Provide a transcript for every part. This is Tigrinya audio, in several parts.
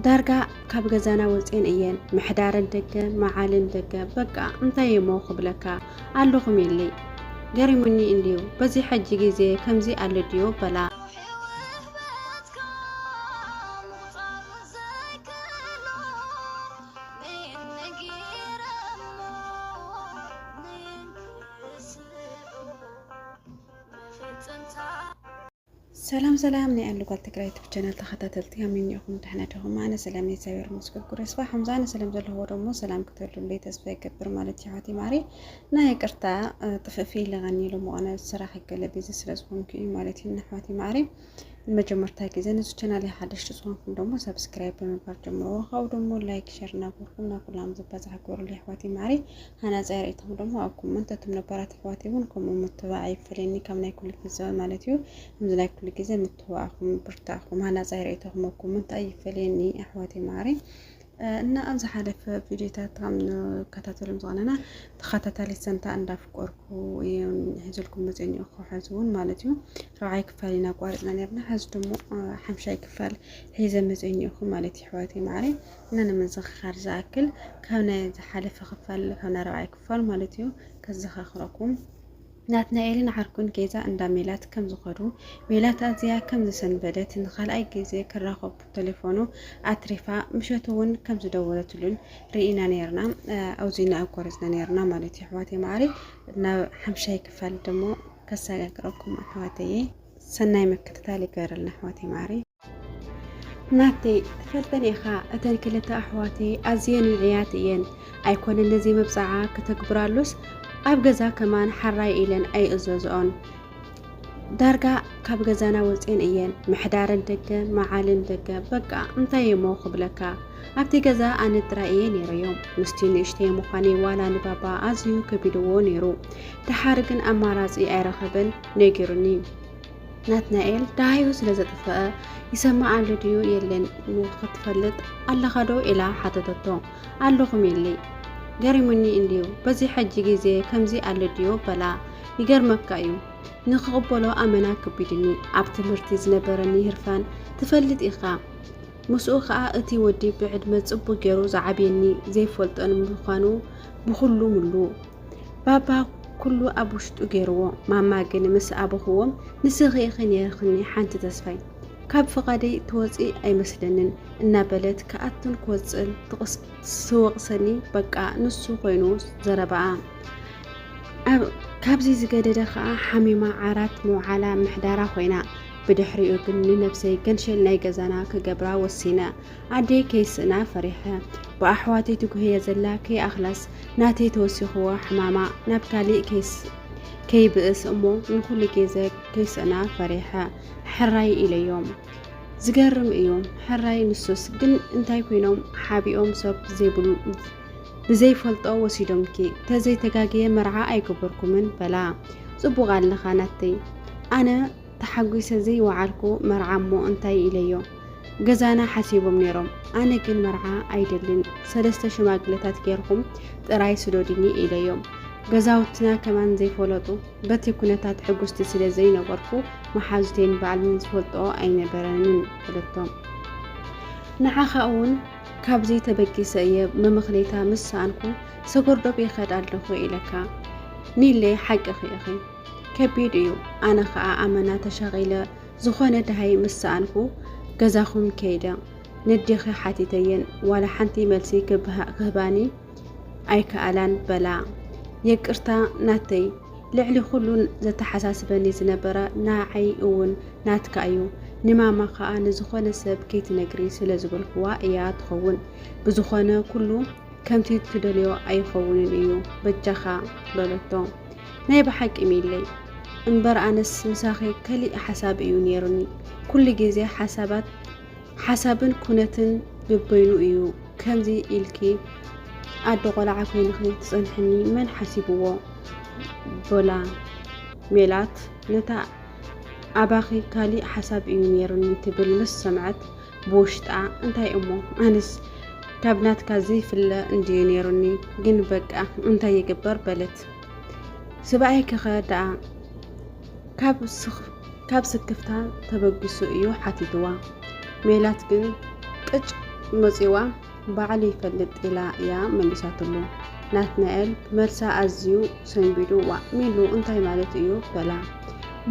ዳርጋ ካብ ገዛና ወፅኤን እየን ምሕዳረን ደገ መዓልን ደገ በቃ እንታይ እሞ ክብለካ ኣለኹም ኢለይ ገሪሙኒ እንድዩ በዚ ሕጂ ግዜ ከምዚ ኣሎ ድዮ በላ ሰላም ሰላም ናይ ኣሉ ጓል ትግራይ ዩቱብ ቻናል ተኸታተልቲ ከመይ ኢኹም ደሕና ዲኹም? ኣነ ሰላም እየ እግዚኣብሔር ይመስገን ኩሉ ስባ ከምዛነ ሰላም ዘለኹዎ ደሞ ሰላም ክትህሉለይ ተስፋ ይገብር ማለት እዩ ሓቲ ማሪ ናይ ይቅርታ ጥፍእፊ ኢለኻኒ ኢሎም ኾነ ስራሕ ይገለ ቢዚ ስለ ዝኾንኩ እዩ ማለት እዩ ንኣሕዋቲ ማሪ ንመጀመርታ ግዜ ነዚ ቻናል ሓደሽቲ ዝኾንኩም ደሞ ሰብስክራይብ ብምግባር ጀምርዎ ካብኡ ደሞ ላይክ ሸር እናገርኩም ናብ ኩላም ዝበፅሕ ግበሩለይ ኣሕዋቲ ማሪ ሃናጻይ ርእይቶኹም ደሞ ኣኩም እንተ እቶም ነባራት ኣሕዋተይ እውን ከምኡ ምትብባዕ ኣይፈለየኒ ካብ ናይ ኩሉ ግዘ ማለት እዩ ከምዚ ናይ ኩሉ ግዘ ምትብባዕኩም ብርታዕኩም ሃናጻይ ርእይቶኹም ኣኩም እንታይ ይፈለየኒ ኣሕዋተይ መዓረይ እና ኣብ ዝሓለፈ ቪዲዮታት ከም ንከታተሎም ዝቐነና ተኸታታሊት ሰንታ እንዳፍቀርኩ እዮም ሒዘልኩም መፅኦ እኒኦ ክሓዝ እውን ማለት እዩ ረብዓይ ክፋል ኢና ኣቋሪፅና ነርና ሕዚ ድሞ ሓምሻይ ክፋል ሒዘ መፅኦ እኒኦኹ ማለት እዩ ኣሕዋተይ መዓረይ እና ንምዝኽኻር ዝኣክል ካብ ናይ ዝሓለፈ ክፋል ካብ ናይ ራብዓይ ክፋል ማለት እዩ ከዘኻኽረኩም ናትናኤልን ዓርኩን ገዛ እንዳ ሜላት ከም ዝኸዱ ሜላት ኣዝያ ከም ዝሰንበደት ንካልኣይ ግዜ ክራኸቡ ቴሌፎኑ ኣትሪፋ ምሸት እውን ከም ዝደወለትሉን ርኢና ነርና ኣውዚና ኣኮረፅና ነርና ማለት እዩ ኣሕዋተይ መዓሪ ናብ ሓምሻይ ክፋል ደሞ ከሰጋግረኩም ኣሕዋተይ ሰናይ ምክትታል ይገበረልና ኣሕዋተይ መዓሪ ናተይ ትፈልጠን ኢኻ እተን ክልተ ኣሕዋተይ ኣዝየን ውዕያት እየን ኣይኮነን ነዚ መብፅዓ ክተግብራሉስ ኣብ ገዛ ከማን ሓራይ ኢለን ኣይእዘዝኦን ዳርጋ ካብ ገዛና ወፅን እየን ምሕዳረን ደገ መዓልን ደገ በቃ እንታይ እሞ ክብለካ ኣብቲ ገዛ ኣነ ጥራይ እየ ነይረዮም ምስቲ ንእሽተይ ምዃነ ዋላ ንባባ ኣዝዩ ከቢድዎ ነይሩ ድሓር ግን ኣማራፂ ኣይረኸበን ነጊሩኒ ናትናኤል ደሃዩ ስለ ዘጥፍአ ይሰማዓሉ ድዩ የለን ክትፈልጥ ኣለኻ ዶ ኢላ ሓተተቶ ኣለኹ ሜሊ ገሪሙኒ እንድዩ በዚ ሕጂ ግዜ ከምዚ ኣሎ ድዩ በላ ይገርመካ እዩ ንክቕበሎ ኣመና ክቢድኒ ኣብ ትምህርቲ ዝነበረኒ ህርፋን ትፈልጥ ኢኻ ምስኡ ከዓ እቲ ወዲ ብዕድመ ጽቡቅ ገይሩ ዝዓብየኒ ዘይፈልጦን ምዃኑ ብኩሉ ምሉ ባባ ኩሉ ኣብ ውሽጡ ገይርዎ ማማ ግን ምስ ኣበኽዎም ንስኺ ኢኺ ነይርክኒ ሓንቲ ተስፋይ ካብ ፍቓደይ ትወፂ ኣይመስለንን እናበለት ክኣቱን ክወፅእን ትወቕሰኒ በቃ ንሱ ኮይኑ ዘረባኣ ካብዚ ዝገደደ ከዓ ሓሚማ ዓራት ምውዓላ ምሕዳራ ኮይና ብድሕሪኡ ግን ንነብሰይ ገንሸል ናይ ገዛና ክገብራ ወሲነ ኣደይ ከይስእና ፈሪሐ ብኣሕዋተይ ትጉህየ ዘላ ከይኣኽላስ ናተይ ተወሲኽዎ ሕማማ ናብ ካሊእ ከይብእስ እሞ ንኹሉ ግዜ ከይስእና ፈሪሐ ሕራይ ኢለዮም። ዝገርም እዩ ሕራይ ንሱስ ግን እንታይ ኮይኖም ሓቢኦም ሰብ ዘይብሉ ብዘይፈልጦ ወሲዶምኪ ተዘይተጋግየ መርዓ ኣይገበርኩምን በላ ጽቡቅ ኣለኻ ናተይ ኣነ ተሓጒሰ ዘይወዓልኩ መርዓ እሞ እንታይ ኢለዮ ገዛና ሓሲቦም ነይሮም ኣነ ግን መርዓ ኣይደልን ሰለስተ ሽማግለታት ጌርኹም ጥራይ ስዶድኒ ኢለዮም ገዛውትና ከማን ዘይፈለጡ በቲ ኩነታት ሕጉስቲ ስለ ዘይነበርኩ መሓዙቴን ባዕልን ዝፈልጦ ኣይነበረንን በለቶም ንዓኻ እውን ካብዚ ተበጊሰ እየ መመኽነይታ ምስ ሰኣንኩ ሰጎርዶብ ይኸድ ኣለኹ ኢለካ ኒለይ ሓቅኺ ኢኺ ከቢድ እዩ ኣነ ከዓ ኣመና ተሻቂለ ዝኾነ ድሃይ ምስ ሰኣንኩ ገዛኹም ከይደ ንዴኺ ሓቲተየን ዋላ ሓንቲ መልሲ ክህባኒ ኣይከኣላን በላ የቅርታ ናተይ ልዕሊ ኩሉን ዘተሓሳስበኒ ዝነበረ ንዓይ እውን ናትካ እዩ ንማማ ከዓ ንዝኾነ ሰብ ከይትነግሪ ስለ ዝበልክዋ እያ ትኸውን ብዝኾነ ኩሉ ከምቲ ትደልዮ ኣይኸውንን እዩ በጃኻ በለቶ ናይ ብሓቂ ሚለይ እምበር ኣነስ ምሳኺ ከሊእ ሓሳብ እዩ ነይሩኒ። ኩሉ ግዜ ሓሳባት ሓሳብን ኩነትን ብበይኑ እዩ ከምዚ ኢልኪ ኣደ ቆልዓ ኮይንኺ ትጸንሕኒ መን ሓሲብዎ በላ ሜላት ነታ ኣባኺ ካሊእ ሓሳብ እዩ ነይሩኒ ትብል ምስ ሰምዐት ብውሽጣ እንታይ እሞ ኣነስ ካብ ናትካ ዘይፍለ እንድዩ ነይሩኒ ግን በቃ እንታይ ይግበር በለት። ስብኣይኪ ከ ደኣ ካብ ስክፍታ ተበጊሱ እዩ ሓቲትዋ። ሜላት ግን ቅጭ መጺዋ ባዕሉ ይፈልጥ ኢላ እያ መሊሳትሉ። ናትናኤል መልሳ ኣዝዩ ሰንቢዱ ዋእ ሚሉ እንታይ ማለት እዩ በላ።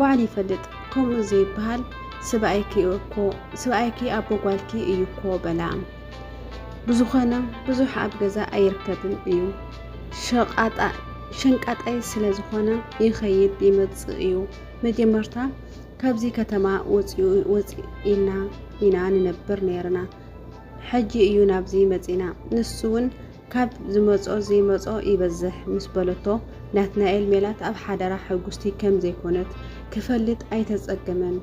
ባዕሉ ይፈልጥ ከምኡ ዘይበሃል ስብኣይኪ ኣቦ ጓልኪ እዩ እኮ በላ። ብዝኾነ ብዙሕ ኣብ ገዛ ኣይርከብን እዩ። ሸቃጣ ሸንቃጣይ ስለ ዝኾነ ይኸይድ ይመፅእ እዩ። መጀመርታ ካብዚ ከተማ ወፂእና ኢና ንነብር ነይርና። ሕጂ እዩ ናብዚ መፂና። ንሱ እውን ካብ ዝመፆ ዘይመፆ ይበዝሕ ምስ በለቶ ናትናኤል ሜላት ኣብ ሓደራ ሕጉስቲ ከም ዘይኮነት ክፈልጥ ኣይተፀገመን።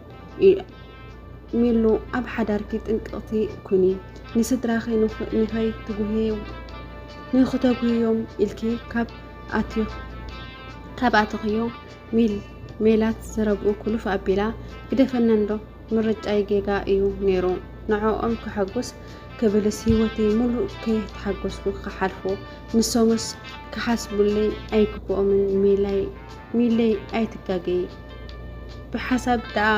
ሚሉ ኣብ ሓዳርኪ ጥንቅቕቲ ኩኒ ንስድራኺ ንኸይ ትጉህዩ ንክተጉህዮም ኢልኪ ካብ ኣትኽ ካብ ኣትኽዮ ሚል ሜላት ዘረብኡ ኩሉፍ ኣቢላ ግደፈና እንዶ ምርጫይ ጌጋ እዩ ነይሩ ንዕኦም ክሐጉስ ክብልስ ህይወተይ ሙሉእ ከየተሓጎስኩ ክሓልፎ ንሶምስ ክሓስቡለይ ኣይግብኦምን ሜላይ ሚለይ ኣይትጋገይ ብሓሳብ ደኣ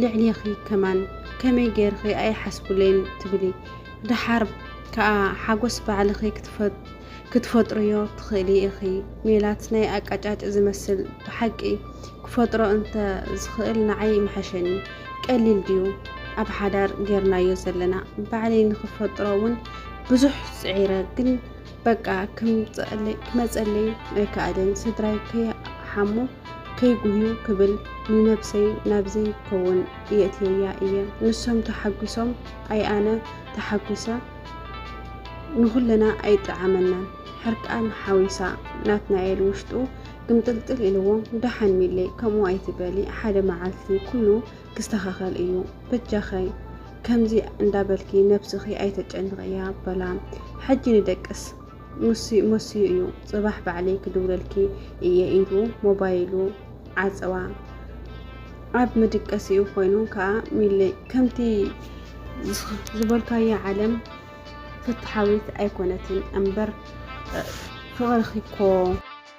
ልዕሌኺ ከማን ከመይ ገይርኺ ኣይሓስቡለይን ትብሊ ደሓር ከኣ ሓጎስ ባዕልኺ ክትፈጥርዮ ትኽእሊ ኢኺ ሜላት ናይ ኣቃጫጭ ዝመስል ብሓቂ ክፈጥሮ እንተ ዝኽእል ንዓይ ምሓሸኒ ቀሊል ድዩ ኣብ ሓዳር ጌርናዮ ዘለና ባዕለይ ንክፈጥሮ እውን ብዙሕ ፅዒረ ግን በቃ ክመፀለይ ኣይከኣለን ስድራይ ከይሓሙ ከይጉህዩ ክብል ንነብሰይ ናብ ዘይከውን የእትየያ እየ ንሶም ተሓጒሶም ኣይ ኣነ ተሓጒሰ ንኹልና ኣይጠዓመናን ሕርቃን ሓዊሳ ናትናኤል ውሽጡ ግምጥልጥል ኢልዎ ደሓን ሚሌ ከምኡ ኣይትበሊ ሓደ መዓልቲ ኩሉ ክስተኻኸል እዩ በጃኺ ከምዚ እንዳበልኪ ነብስኺ ኣይተጨንቕያ በላ ሕጂ ንደቅስ መሲዩ እዩ ፅባሕ ባዕለይ ክድውለልኪ እየ ኢሉ ሞባይሉ ዓፀዋ ኣብ መድቀሲኡ ኮይኑ ከዓ ሚለይ ከምቲ ዝበልካያ ዓለም ፍትሓዊት ኣይኮነትን እምበር ፍቕርኺ እኮ